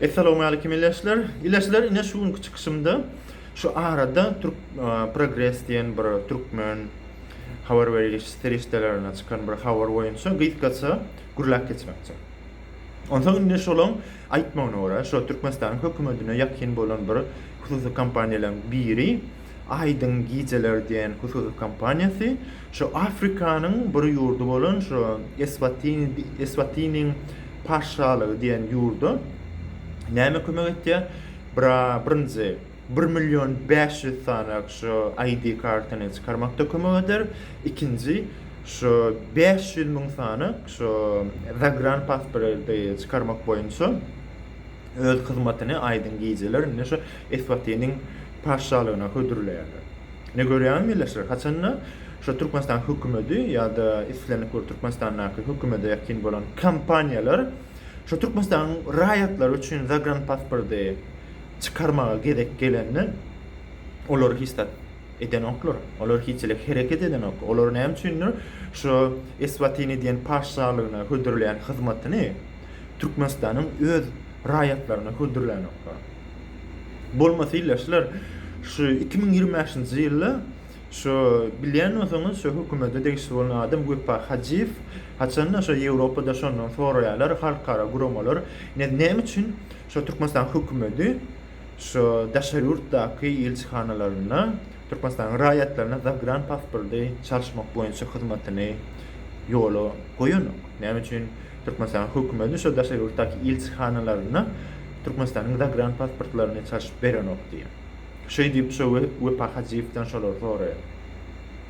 Essalawmalikim ileçler. Ileçler ine şu günki çykyşymda şu arada Türk Progres diýen bir türkmen habar beriş serişdelerine çykan bir habar boýunça gysgaça gürläp geçmekçi. Onsoň indi şolaň aýtmagyna görä, şu Türkmenistanyň hökümetine ýakyn bolan bir hususy kompaniýalaryň biri Aýdyň gijeler diýen hususy kompaniýasy şu Afrikanyň bir ýurdy bolan şu Eswatini Eswatiniň paşşalygy diýen ýurda näme kömek etýär? Bira birinji bir million bäş ýüz sany şu ID kartany çykarmakda kömek eder. Ikinji şu bäş ýüz müň sany şu zagranpasporty çykarmak boýunça öz hyzmatyny aýdyň gijeler indi şu Eswatiniň patyşalygyna hödürleýärler. Ine görýäňiz milletçiler, haçanda şu Türkmenistan hökümeti ýa-da islendik bir Türkmenistandaky hökümete ýakyn bolan kompaniýalar şu Türkmenistanyň raýatlary üçin zagranpasporty çykarmaga gezek gelende olar hiç zat edenoklar, olar hiçlik hereket edenok. Olar näme üçindir şu Eswatini diýen patyşalygyna hödürleýän hyzmatyny Türkmenistanyň öz raýatlaryna hödürlänoklar. Bolmasy ýyl-a şular şu iki müň ýigrimi bäşinji ýylda şu bilýän bolsaňyz şu hökümede degişli bolan adam Wepa Hajyýew haçan-da şu Ýewropada şondan soraýarlar halkara guramalar ne näme üçin şu Türkmenistanyň hökümedi şu daşary ýurtdaky ilçihanalaryna Türkmenistanyň raýatlaryna zagran pasporty çalyşmak boýunça hyzmatyny ýola goýanok? Näme üçin Türkmenistanyň hökümeti şo daşary ýurtdaky ilçihanalaryna Türkmenistanyň zagranpasportlaryny çalşyp berenok diýýär. Şeý diýip, şo Wepa Hajyýewden şolary soraýar.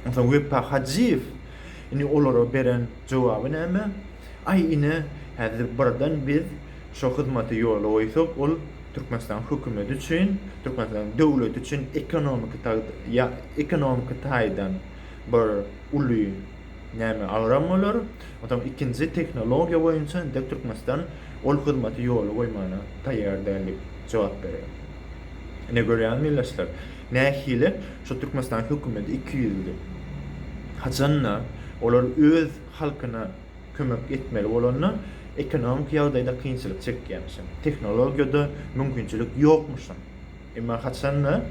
Onsoň Wepa Hajyýew indi olara beren jogaby näme? Aý ine, häzir birden biz şo hyzmaty ýola goýsak, ol Türkmenistanyň hökümeti üçin, Türkmenistanyň döwleti üçin ekonomiki ekonomiki taýdan bir uly Näme agram bolar? Onsoň ikinji tehnologiýa boýunça entek Türkmenistan ol hyzmaty ýola goýmana taýýar däl diýip jogap berýär. Ine görýäňizmi ildeşler, nähili şu Türkmenistan hökümeti ikiýüzli. Haçan-da, olar öz halkyna kömek etmeli bolanda, ekonomiki ýagdaýda kynçylyk çekýärmişin, tehnologiýada mümkinçilik ýokmuşyn. Emma haçan-da,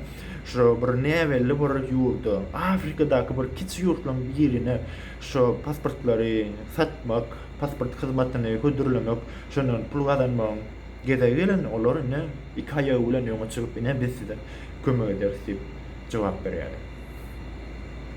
şo bir näbelli bir ýurda, Afrikadaky bir kiçi ýurtlaryň birine şo pasportlary satmak, pasport hyzmatyny hödürlemek, şondan pul gazanmagyň gezegi gelende, olar ine, iki aýagy bilen öňe çykyp, ine, biz size kömek ederis diýip jogap berýärler.